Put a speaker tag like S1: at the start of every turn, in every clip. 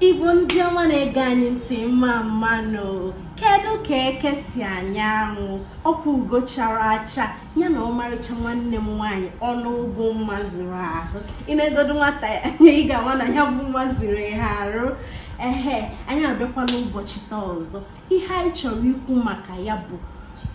S1: Igbo ndị ọma na-ege anyị ntị mma mma nụ kedu ka eke si anya anwụ ọkwa ugo chara acha ya na ọmarịcha nwanne m nwaanyị ọnụ ugwu mma zuru ahụ ị neegodu nwata ya anya ị ga-ama na ya bụ mma zuru ya arụ ehe anyị abịakwala ụbọchị taa ọzọ ihe anyị chọrọ ikwu maka ya bụ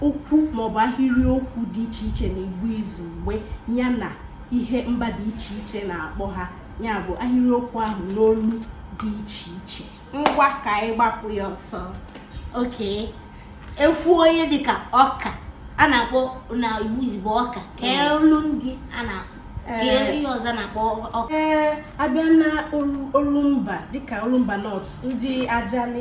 S1: okwu maọbụ ahịrịokwu dị iche iche na Igbo izugbe ya na ihe mba dị iche iche na-akpọ ha ya bụ ahịrịokwu ahụ n'olu dị iche iche ngwa ka anyị gbapụ ya ọsọ
S2: okay e kwuo ihe dịka ọka a na-akpọ na Igbo izugbe ọka kee mm. olu ndị a na-akpọ ihe ọzọ na-akpọ ọka ee abịa na
S1: Orumba dịka Orumba North ndị Ajali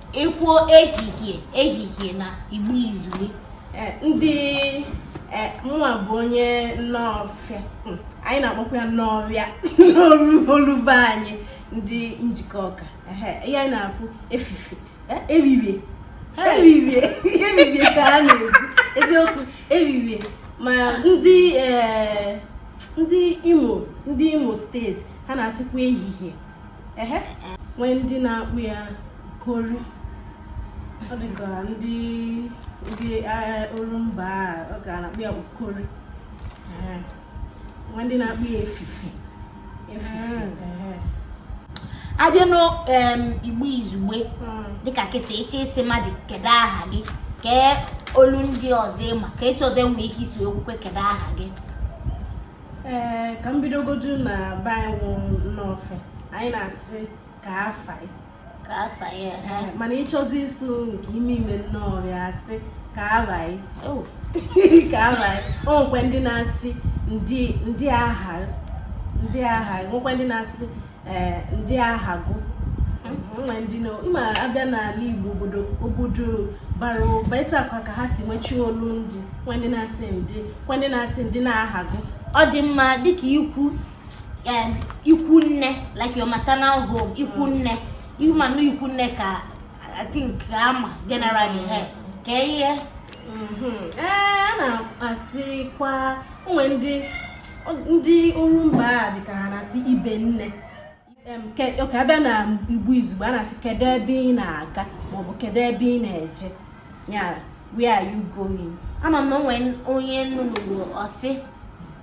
S2: ekwuo ehihie ehihie na Igbo izugbe eh,
S1: ndị eh, mụwa bụ onye Nnọọfịa hmm, anyị na-akpọkwa ya Nnọọfịa n'olu be anyị ndị Njikọka ihe anyị na-akpọ efifie eh, eririe eririe eririe ka ha na-ekwu eziokwu eririe ma ndị ndị Imo ndị Imo State ha na-asịkwa ehihie ehe nwee ndị na-akpọ ya ukori ọ dịka ndị ndị Orumba ọ ga na-akpọ ya ukori nwee ndị na-akpọ ya
S2: efifie abịa n'Igbo izugbe hmm. dịka kịta ị chọọ ịsị mmadụ kedu aha gị kee olu ndị ọzọ ịma ka etu ọzọ enwee ike isi wee kwukwa kedu aha gị
S1: ee ka m bidogodu na be anyị wụ Nnọọfịa anyị na-asị ka afa ị ka afa ị ha Ee, mana ịchọzi ịsụ nke ime ime Nnọọfịa a sị ka ava ị oh ka ava ị o nwekwa ndị na-asị ndị ndịị aha ndịị aha nwekwa ndị na-asị eh, ndịị aha gụ nwee ndị na ịma abịa n'ala Igbo obodo obodo bara ụba isi akwa ka ha si nwechie olu ndị kwa ndị na-asị ndị kwa ndị na-asị ndị na-aha gụ ọ dị mma
S2: dịka ikwu ikwu nne like your maternal home ikwu nne ịmanụ ikwu nne ka I think a ma generally he ka ihe
S1: mm-hmm. ee eh, a na-asịkwa o nwe ndị ndị Orumba a dịka ha na-asị ibe nne ka abịa na Igbo izugbe a na-asị kedu ebe ị na-aga maọbụ kedu ebe ị na-eje ya where are you going ama m na o
S2: nwe onye m nụrụ ọ sị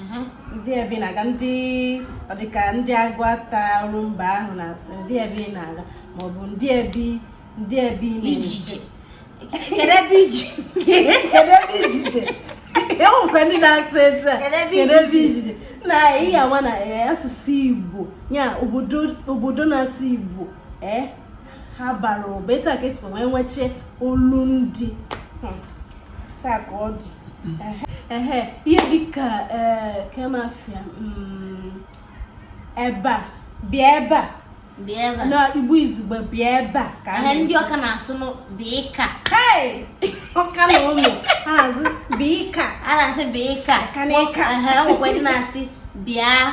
S1: mhm. ndị ebe ị na-aga ndị ọdịka ndị Aguata Orumba ahụ na-asị ndị ebe ị na-aga maọbụ ndị ebe ndị ebe ị na-eje kedu
S2: ebe iji kedu ebe ijije
S1: e nwekwa ndị na-asị etu a kedu ebe ijije na ihe ama na eh, asụsụ igbo ya obodo na-asụ igbo eh, ha bara ụba etu a ka e sikwa wee nwechaa olu ndị hmm. taa ka ọ dị ehe ihe dịka e, come over here mm, ebe a bịa ebe a bịa ebe a na igbo izugbe bịa ebe a ka ihe ndị Ọka na-asụ
S2: nụ bịịka
S1: hey Ọka na ụmụ ha asị bịịka a na-asị bịịka
S2: Ọka na ịka. Ehe, o nwekwa ndị na-asị bịa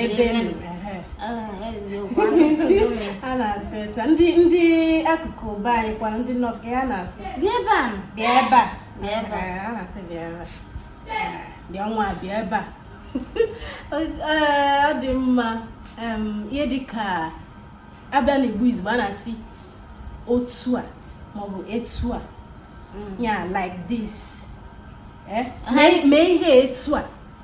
S2: ebe a na-asị ta ndị ndị akụkụ be anyị kwanụ ndị North ka a na-asị bịa ebe a bịa ebe a bịa ebe a a na-asị
S1: bịa ebe a bịa nwa bịa ebe a ọ dị mma ihe dị
S2: ka a bịa n'Igbo izugbe a na-asị otu a maọbụ etu a ya like this mee ihe etu a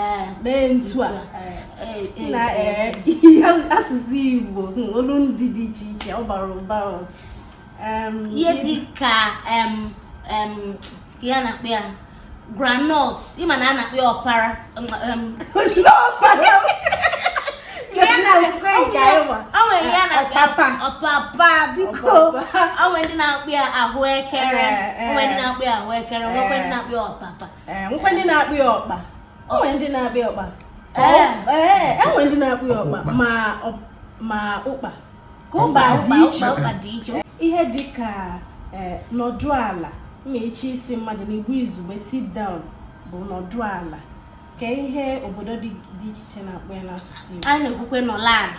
S2: eh, mee ntu a eh, eh, na ihe asụsụ Igbo hmm, olu ndị dị iche iche ọ bara ụba ihe
S1: dị ka ihe a na-akpọ ya groundnut ị ma na a na-akpọ ya ọpara ọpapa biko o nwe ndị na-akpọ ya ahụekere o nwe ndị na-akpọ ya ahụekere nwekwe ndị na-akpọ ya ọpapa ee nwekwa ndị na-akpọ
S2: ya ọkpa o nwere ndị na-akpọ ya ọkpa ee ee e nwere ndị na-akpọ ya ọkpa ma ọ- ma ụkpa ka ụkpa dị iche ụkpa dị iche ihe dị ka ee, nọdụ ala ma ị chọọ ịsị mmadụ n'Igbo izugbe sit down bụ nọdụ ala kee ihe obodo dị iche iche na-akpọ ya n'asụsụ Igbo a na-ekwukwe nọla ala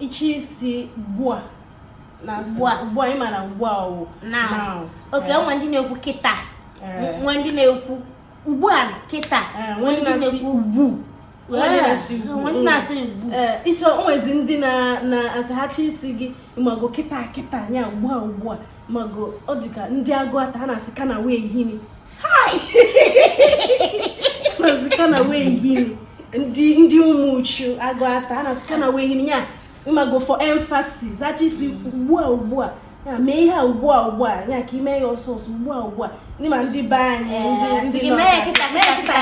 S2: ị chọọ ịsị ugbu a na ugbu a ugbu a ị mara ugbu a ọ wụ now
S1: okay nwee ndị na-ekwu kịta nwee ndị na-ekwu ugbu a kịta
S2: nwee ndị na-ekwu ugbu a ị chọọ o nwezi ndị na-asị ha chọọ ịsị gị ị mago kịta kịta nya ugbu a ugbu a ị mago ọ dịka ndị Aguata ha na-asị kana wehini kana wehini ndị ndị Umuchu Aguata a na-asị kana wehini ya ị mago for emphasis a chọọ ịsị ugbu a ugbu a ya mee ihe a ugbu a ugbu a ya ka i mee ya ọsọ ọsọ ugbu a ugbu a ndị ma ndị be anyị eh, ndị North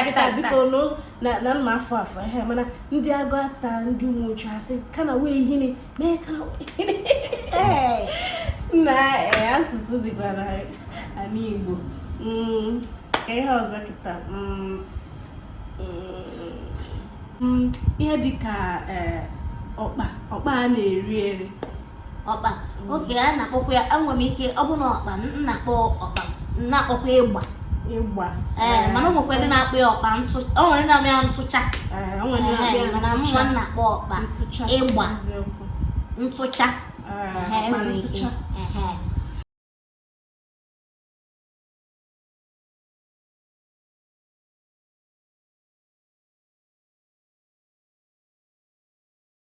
S2: kịta biko na mma afọ afọ ehe mana ndị Aguata ndị Umuchu ha sị kana wehini na eh, asụsụ dịkwa na ala Igbo mm, ka ihe ọzọ kịta mm, mm, ihe dịka eh, ọkpa ọkpa a na-eri eri ọkpa
S1: okay a na-akpọkwa ya enwere m ike ọ bụ na ọkpa m na-akpọ ọkpa m na-akpọkwa ịgba ee mana o nwekwa ndị na-akpọ ya ọkpa o nwere ndị na-akpọ ya ntụcha mana mụnwa na-akpọ ọkpa ịgba ntụcha